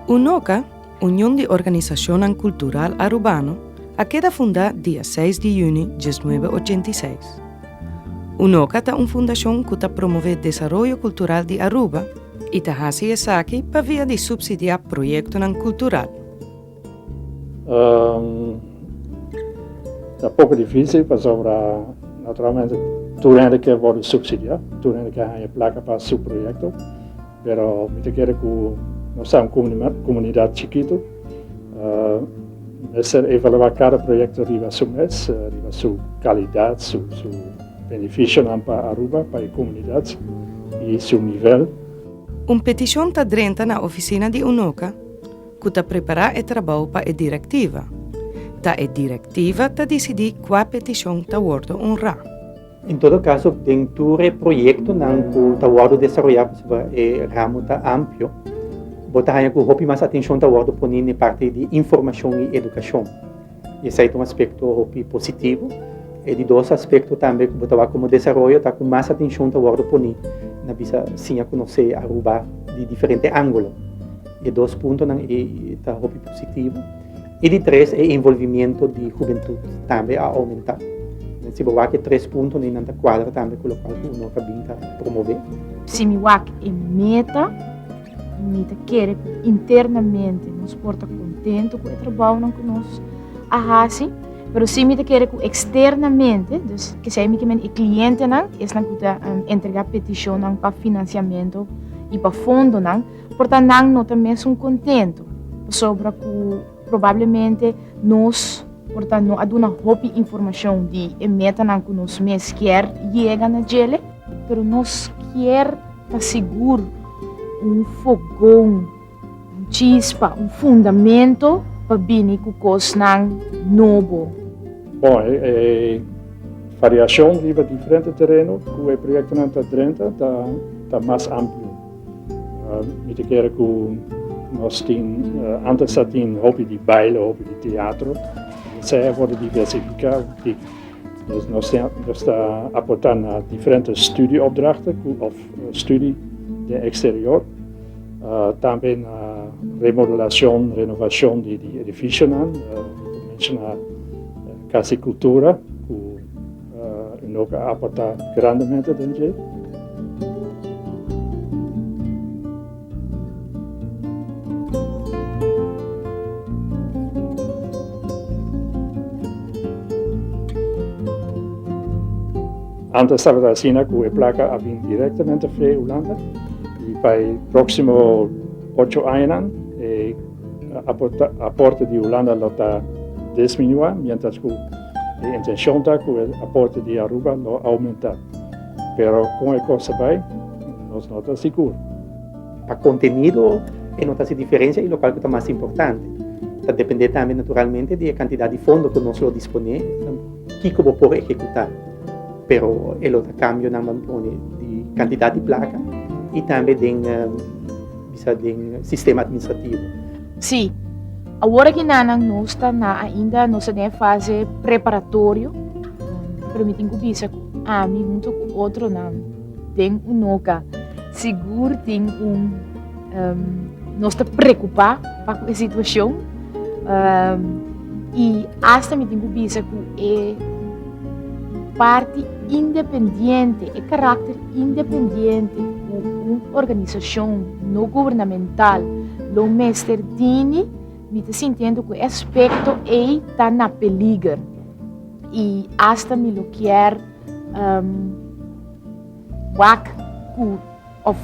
Unoca, Union di Organisacionnan Cultural Arubano, a keda fundá dia seis di yüni dies nuebe ochenta i seis. Unoca ta un fundacion cu ta promové desaroyo cultural di Aruba i ta haci esaki pa via di subsidiá proyectonan cultural. Ta poco dificil pasobra naturalmente tur hende kier wordo subsidia, tur hende kier hanja placa pa su proyecto, pero mi ta kere cu nos ta un comunidad chikito, mester evalua cada proyecto riba su mes, riba su calidad, su beneficionan pa Aruba, pa e comunidad y su nivel. Un peticion ta drenta na oficina di Unoca. ku ta prepará e trabou pa e direktiva, ta e direktiva ta disidí kua petishon ta wòrdu onrá. En todo kaso, den tur e proyektonan ku ta wòrdu desaroyá, pasobra e ramu ta amplio, bo ta haña ku hopi mas atenshon ta wòrdu poní n'e parti di informashon i edukashon. Esei ta un aspekto hopi positivo. E di dos aspekto tambe ku bo ta wak komo desaroyo ta ku mas atenshon ta wòrdu poni na bisa siña konosé Aruba di diferente ángulo. E dos puntonan ei ta hopi positivo. I di tres e envolvimiento di hubentut tambe a oumentá. Si bo wak e tres puntonan ei nan ta kuadra tambe ku lokual ku UNOCA bin ta promové. Si mi wak e meta. Mi ta kere ku internamente nos por ta kontentu ku e trabounan ku nos a hasi, pero si mi ta kere ku eksternamente, dus kesei mi kimen e klientenan, esnan ku ta entregá petishonnan pa finansiamentu i pa fondonan, por ta nan no ta mesun kontentu pasobra ku probablemente nos por ta no a duna hopi informashon di e metanan ku nos mes kier yega na djele, pero nos kier. Ta sigur, un fogón, un chispa, un fundamento pa bini ku kosnan nobo. Bon, e variashon riba diferente tereno ku e proyektonan ta drenta ta mas amplio. Mi ta kere ku nos tin, antes a tin hopi di baile, hopi di teatro, mi esei a wòrdu diversifiká un tik. Nos nos ta nos ta aportá na diferente studieopdrachten cu of studie den exterior. Uh, tambe na remodelacion, renovacion di, di edificionan, uh, menciona uh, Casa Cultura, cu uh, no ka aportá grandemente den dje. Antes tabata asina cu e placa a bin directamente fre Hulanda y pa e proximo ocho añanan e aporte di Hulanda lo ta disminua, mientras cu e intencion ta cu e aporte di Aruba lo aumenta. Pero kon e kos bai? Nos no ta sigur. Pa kontenido e no ta si diferensia i lokal ku ta mas importante. Ta dependé tambe naturalmente di e kantidat di fondo ku nos lo disponé den kiko bo por ekekutá. Pero e lo ta kambionan bo pone di kantidat di plaka i tambe den bisa den sistema administrativo. Sí. Awor aki nanan nos ta na ainda nos ta den fase preparatorio. Permitin cu bisa cu ami hunto cu otronan den Unoca sigur tin un um, nos ta preocupa pa cu e situacion um, y hasta mi tin cu bisa cu e parti independiente, e karakter independiente ku un organisashon no gubernamental lo mester tini, mi ta sintiendo ku e aspekto ei ta na peliger i asta mi lo kier wak ku. Òf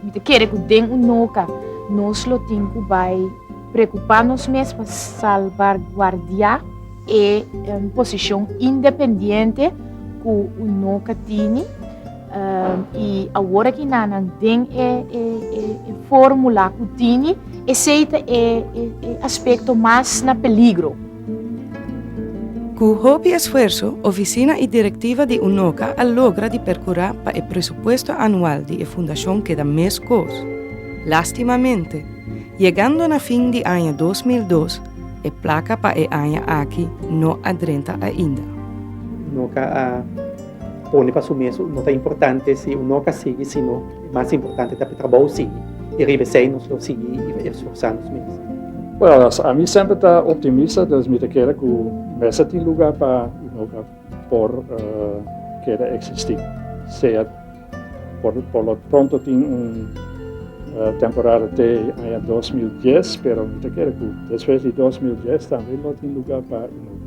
mi ta kere ku den un noka nos lo tin ku bai prekupá nos mes pa salbarguardiá e posishon independiente ku un noka tini. I awor aki nannan den e fórmula ku tini, esei ta e aspekto mas na peligro. Ku hopi esfuerso, ofisina i direktiva di UNOCA a logra di perkurá pa e presupuesto anual di e fundashon keda meskos. Lástimamente, yegando na fin di aña dos mil dos, e plaka pa e aña aki no a drenta ainda. UNOCA a. Pone pa su mes no ta importante si un no ka sigui sino e mas importante ta pa e trabou sigui i riba esei nos lo sigui i esforsá nos mes. Well, ami semper ta optimista dus mi ta kere ku mes a tin lugá pa i no ka por keda eksistí. Sea por por lo pronto tin un temporada te aña dos mil dies pero mi ta kere ku despues di dos mil dies tambe lo tin lugá pa i no ka.